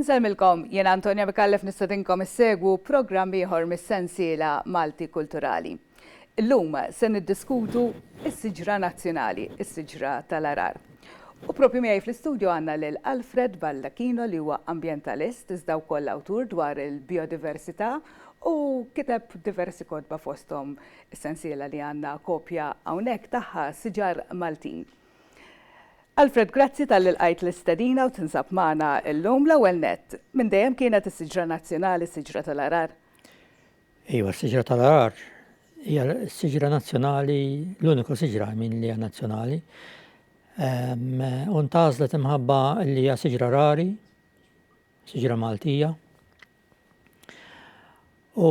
Insellmilkom, jien Antonia Micallef nistedinkom issegwu programm ieħor mis-sensiela Malti Kulturali. Illum se niddiskutu s-siġra nazzjonali, is-siġra tal-għarar. U propju miegħi fl-istudju għandna lil Alfred Baldacchino li huwa ambjentalist iżda wkoll awtur dwar il-bijodiversità u kiteb diversi kotba fosthom is-sensiela li għandna kopja hawnhekk tagħha Siġar Maltin. Alfred grazzi talli lqajt l-istedina u tinsab magħna llum. L-ewwel nett, minn dejjem kienet is-siġra nazzjonali s-siġra tal-għarar? Iva, s-siġra tal-għarar hija s-siġra nazzjonali, l-uniku siġra minn li hija nazzjonali. U ntażlet imħabba li hija siġra rari, siġra Maltija. U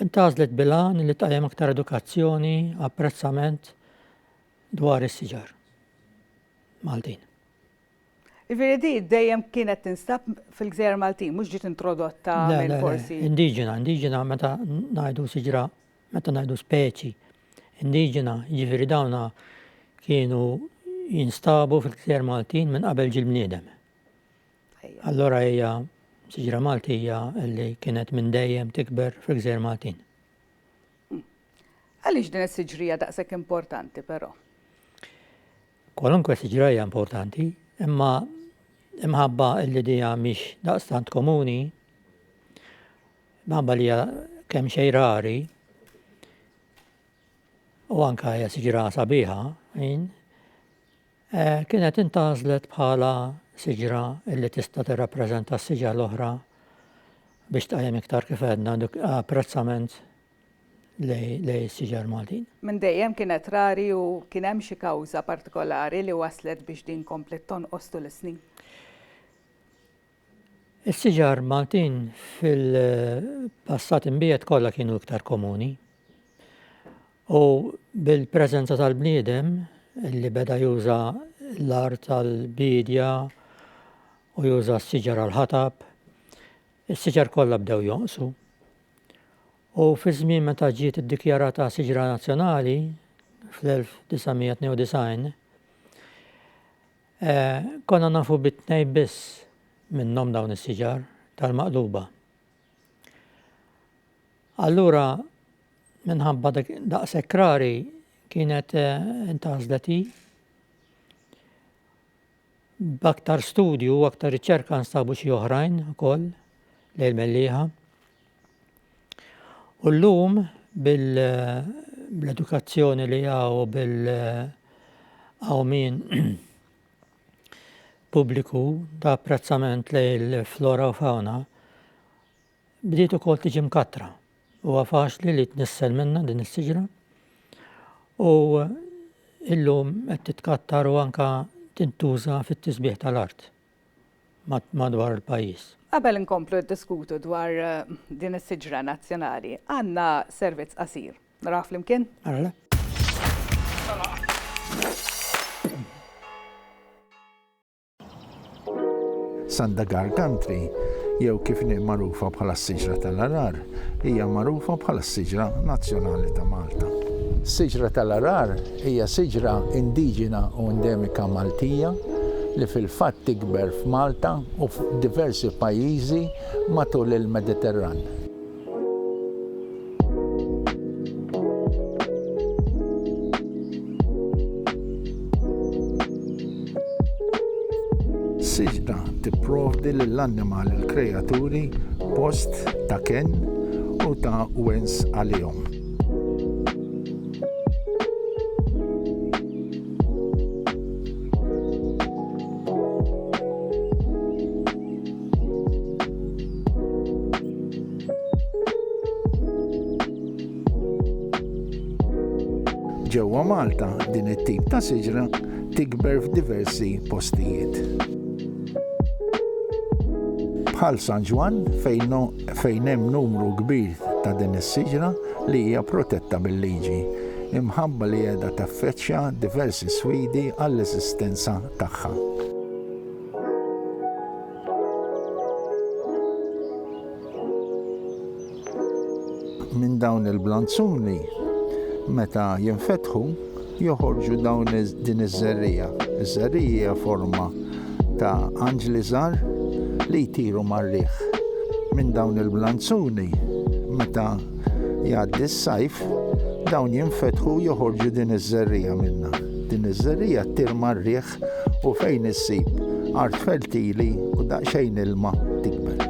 ntażlet bilan li tajjem aktar edukazzjoni, apprezzament, dwar is-siġar Maltin. Ifieri di dejjem kienet tinstab fil-gżejjer Maltin, mhux ġiet introdotta minn forsi. Indiġena, indiġena meta ngħidu siġra, meta ngħidu speċi. Indiġena, jiġifieri dawna kienu jinstabu fil-gżejjer Maltin minn qabel ġil-bniedem. Allora hija siġra Maltija li kienet minn dejjem tikber fil-gżejjer Maltin. Hm. Għaliex din is-siġrija daqshekk importanti però? Kwalunkwe siġrija importanti, imma imħabba li dija mhix daqstant komuni, mħabba li hija kemm xejn rari, u anka hija siġra sabiħa, Kienet intgħażlet bħala siġra li tista' tirrappreżenta s-siġar l-oħra biex tqajjem iktar kif għedna apprezzament lejn is-siġar Maltin. Minn dejjem kienet rari u kien hemm xi kawża partikolari li wasslet biex din kompliet tonqos tul is-snin? Is-siġar Maltin fil-passat imbiegħed kollha kienu iktar komuni. U bil-preżenza tal-bniedem li beda juża l-art tal-biedja u juża s-siġar għall-ħatab, is-siġar kollha bdew jonqsu. U fi żmien meta ġiet iddikjarata siġra nazzjonali fl-1992, Konna nafu bi tnejn biss minnhom dawn is-siġar tal-maqluba. Allura minħabba daqshekk rari kienet eh, intgħażlet hi. B'aktar studju u aktar riċerka nstabu xi oħrajn ukoll lejl mellieħa. U llum bil-edukazzjoni li hawn u bil-qawmien pubbliku ta' apprezzament lejn il-flora u fawna bdiet ukoll tiġi mkattra. Huwa faċli li tnissel minnha din is-siġra u illum qed titkattar u anke tintuża fit-tisbiħ tal-art. madwar il-pajjiż. Qabel inkomplu niddiskutu dwar din is-siġra nazzjonali, għandna servizz qasir. Narawh flimkien? Alla. Sandagar Country, jew kif inhi magħrufa bħala s-Siġra tal-Għarar, hija magħrufa bħala s-Siġra Nazzjonali ta' Malta. Siġra tal-Għarar Hija siġra indiġena u endemika Maltija li fil-fatt tikber f'Malta u f'diversi pajjiżi matul il-Mediterran. Siġra tipprovdi lill-annimal il-kreaturi post ta' kenn u ta' wens għalihom. Ġewwa Malta din it-tip ta' siġra tikber f'diversi postijiet. Bħal San Ġwan fejn fejn hemm numru kbir ta' din is-siġra li hija protetta bil-liġi, imħabba li qiegħda taffaċċja diversi sfidi għall-eżistenza tagħha. minn dawn il-blanzuni meta jinfetħu joħorġu dawn din iż-żerriegħa. Iż-żerriegħa hija forma ta' anġli żgħar li jtiru mar-riħ. Minn dawn il-blanzuni meta jgħaddi s-sajf dawn jinfetħu joħorġu din iż-żerriegħa minnha. Din iż-żerriegħa ttir mar-riħ u fejn issib art fertili u daqsxejn ilma tikber.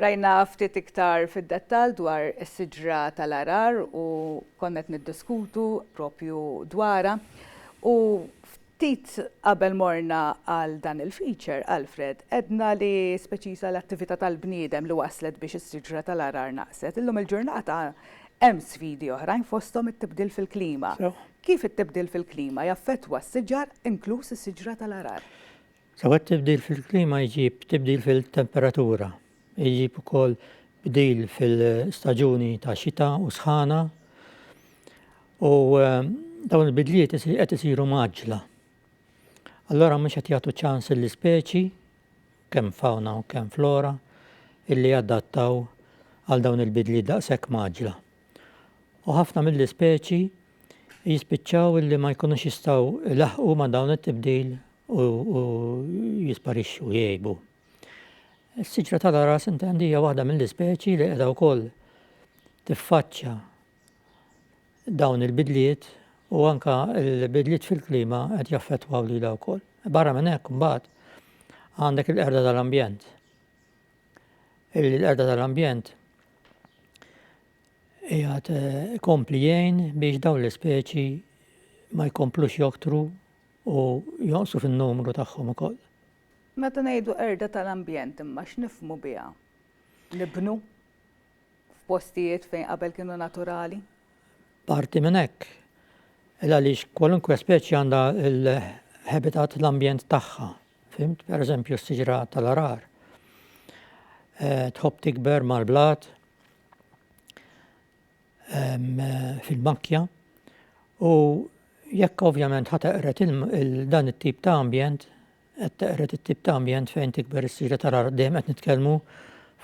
Rajna ftit iktar fid-dettall dwar is-siġra tal-għarar u konna qed niddiskutu proprju dwarha. U ftit qabel morna għal dan il-feature, Alfred, għedna li speċiża l-attività tal-bniedem li wasslet biex is-siġra tal-għarar naqset. Illum il-ġurnata hemm sfidi oħrajn fosthom it-tibdil fil-klima. Kif it-tibdil fil-klima jaffettwa s-siġar, inkluż is-siġra tal-għarar? Sewa t-tibdil fil-klima jġib tibdil fil-temperatura, jġib ukoll bdil fil-staġuni ta' xita u sħana u dawn il-bidliet qed isiru mgħaġġla. Allora mhux qed jagħtu ċans l-ispeċi kemm fawna u kemm flora illi jadattaw għal dawn il-bidliet daqshekk mgħaġġla. u ħafna mill-ispeċi jispiċċaw illi ma jkunux jistgħu ilaħqu ma' dawn it-tibdil u jisparixxu jgħibu. Is-siġra tal-aras intendija waħda mill-ispeċi li qiegħda wkoll tiffaċċja dawn il-bidliet u anka l-bidliet fil-klima qed jaffettwaw lilha wkoll. Barra minn hekk mbagħad għandek il-qerda tal-ambjent. illi l-qerda tal-ambjent jgħat eh, kompli jgħin biex dawn l-ispeċi ma jkomplux joktru u jonqsu fin-numru tagħhom ukoll. Meta ngħidu erda tal-ambjent imma x'nifmu biha? Nibnu f'postijiet fejn qabel kienu naturali? Parti minn hekk. Il għaliex kwalunkwe speċi għandha l-habitat l-ambjent tagħha Fhimt? Per eżempju, s-siġra tal-arar eh, tħobb tikber mal-blat eh, fil-makkja u jekk ovvjament ħateqret dan it-tip ta' ambjent, qed teqret it-tip ta' ambjent fejn tikber is-siġra tara dejjem qed nitkellmu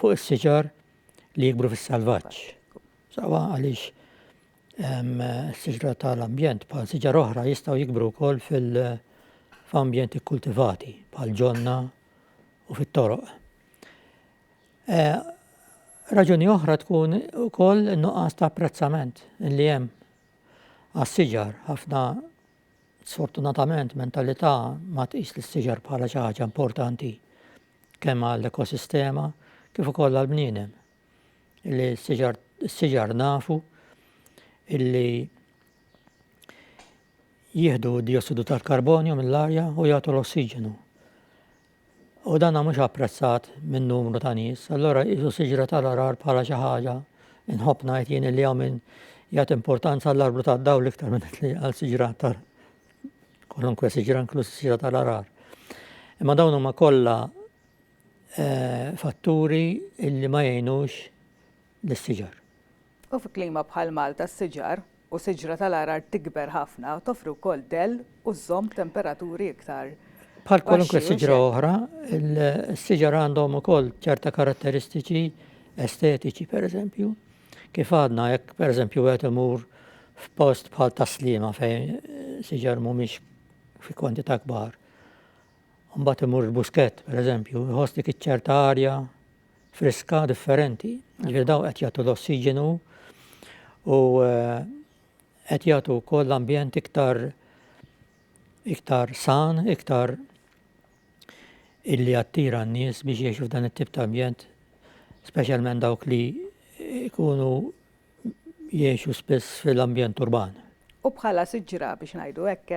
fuq is-siġar li jikbru fis-salvaġġ. Sawa għaliex Siġra tal-ambjent bħal siġar oħra jistgħu jikbru wkoll fil-ambjent ikkultivati bħal ġonna u fit-toroq. Eh, raġuni oħra tkun ukoll nuqqas ta' apprezzament li hemm għas-siġar ħafna sfortunatament mentalità ma tqis li s-siġar bħala xi ħaġa importanti kemm għall-ekosistema kif ukoll għall-bniedem. li s-siġar s-siġar nafu illi jieħdu diossidu tal-karbonju mill-arja u jagħtu l-ossiġenu. U dan mhux apprezzat minn numru ta' nies, allora jisu siġra tal-arar bħala xi ħaġa inħobb ngħid jien li hawn minn jagħti importanza għall-arbru tad-dawl iktar minn li għal siġra tal kolunkwe siġra inkluż siġra tal-arar. Imma dawn huma kollha fatturi li ma jgħinux lis-siġar. U fi klima bħal Malta s-siġar u siġra tal-għargħar tikber ħafna u toffri wkoll dell u żżomm temperaturi iktar baxxi. Bħal kwalunkwe siġra oħra, is-siġar għandhom ukoll ċerta karatteristiċi estetiċi, pereżempju, kif għadna jekk pereżempju wieħed imur f'post bħal Tas-Sliema fejn siġar mhumiex fi kwantità kbar. u mbagħad imur il-buskett, pereżempju, iħoss dik iċ-ċerta arja friska differenti, ġifieri daw qed jagħtu l-ossiġenu u eh, qed jagħtu wkoll l-ambjent iktar iktar san, iktar illi attira n-nies biex jiexu f'dan it-tip ta' ambjent, speċjalment dawk li ikunu jgħixu spiss fil-ambjent urban. U bħala siġra, biex ngħidu hekk,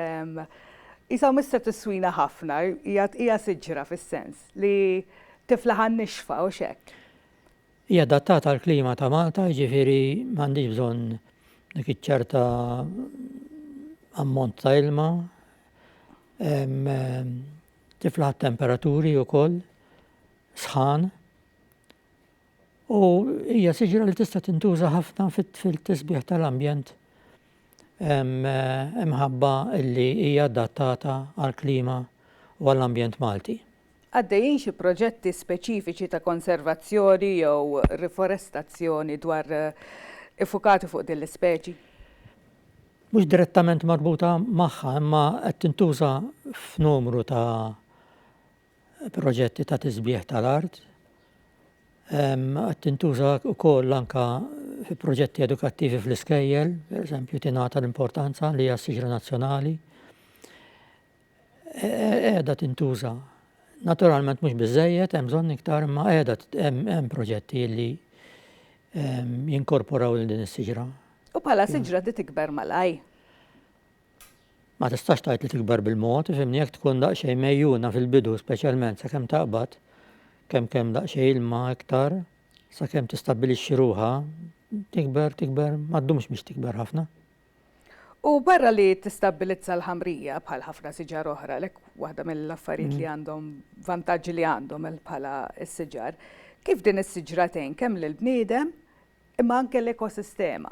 qisha hu mista tiswina ħafna, hija hija siġra fis-sens li tiflaħ għan-nixfa, hux hekk? Hija adattata għall-klima ta' Malta, jiġifieri m'għandhiex bżonn dik iċ-ċerta ammont ta' ilma. Tiflaħ temperaturi wkoll sħan. U hija siġra li tista' tintuża ħafna fil-tisbieħ tal-ambjent imħabba li hija adattata għall-klima u għall-ambjent Malti. Għaddejjin xi proġetti speċifiċi ta' konservazzjoni jew riforestazzjoni dwar iffukati fuq din l-ispeċi? Mhux direttament marbuta magħha imma qed tintuża f'numru ta' proġetti ta' tisbieħ tal-art. Qed tintuża wkoll anka fi proġetti edukattivi fl-iskejjel, pereżempju tingħata l-importanza li hija siġra nazzjonali. E, e, qiegħda tintuża. Naturalment mhux biżejjed, hemm bżonn iktar imma qiegħda hemm proġetti li jinkorporaw lil din is-siġra. U bħala siġra di tikber malaj. Ma tistax tgħid li tikber bil-mod, ifhimni, jekk tkun daqsxejn mgħejjuna fil-bidu speċjalment sakemm taqbad, kemm kemm daqsxejn ilma iktar, sakemm tistabbilixxi ruħha, tikber, tikber, ma ddumx biex tikber ħafna. U barra li tistabbilizza l-ħamrija bħal ħafna siġar oħra, għalhekk waħda mill-affarijiet li għandhom, vantaġġi li għandhom bħala s-siġar, kif din is-siġra tgħin kemm lill-bniedem, imma anke l-ekosistema.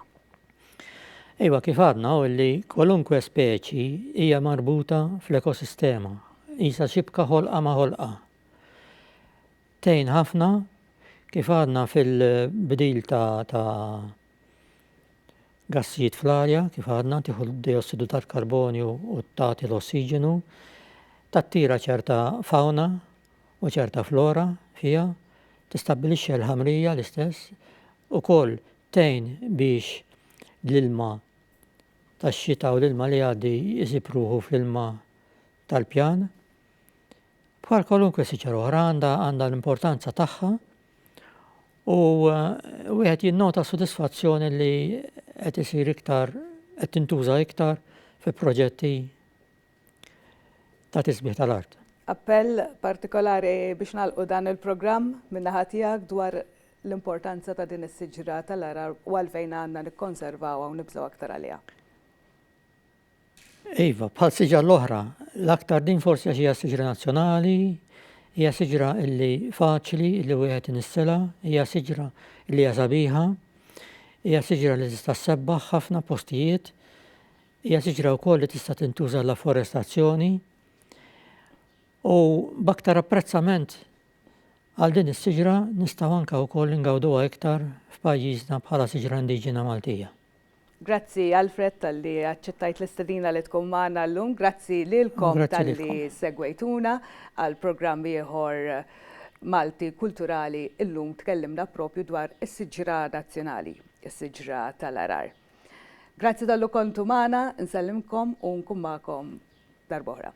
Iva, kif għadna hu li kwalunkwe speċi hija marbuta fl-ekosistema, qisha xibka ħolqa ma' ħolqa. Tgħin ħafna kif għadna fil-bdil ta' ta' gassijiet fl-arja, kif għadna tieħu d-diossidu tal-karbonju u tagħti l-ossiġenu, tattira ċerta fawna u ċerta flora fiha tistabbilixxi l-ħamrija l-istess ukoll tgħin biex l-ilma tax-xita u l-ilma li jgħaddi jsib ruħu fl-ilma tal-pjan. Bħal kwalunkwe siċar oħra għandha għandha l-importanza tagħha u eh, wieħed jinnota sodisfazzjoni li qed isir iktar qed tintuża iktar fi proġetti ta' tisbih tal-art. Appell partikolari biex nagħlqu dan il-programm min-naħa tiegħek dwar l-importanza ta' din is-siġra tal-għarar u għalfejn għandna nikkonservawha u nibżgħu aktar għaliha. Iva, bħal siġar l-oħra, l-aktar din forsi għax hija siġra nazzjonali, hija siġra illi faċli illi wieħed inissela, hija siġra illi hija sabiħa, hija siġra li tista' sebbaħ ħafna postijiet, Hija siġra wkoll li tista' tintuża għall-afforestazzjoni u b'aktar apprezzament għal din is-siġra nistgħu anke wkoll ingawduha iktar f'pajjiżna bħala siġra indiġena Maltija. Grazzi Alfred talli aċċettajt l-istedina li tkun magħna llum. Grazzi lilkom talli segwejtuna għal programm ieħor Malti Kulturali. Illum tkellimna proprju dwar is-siġra nazzjonali, is-siġra tal-għarar. Grazzi tallu kontu magħna, nsellimkom u nkun magħkom darba oħra.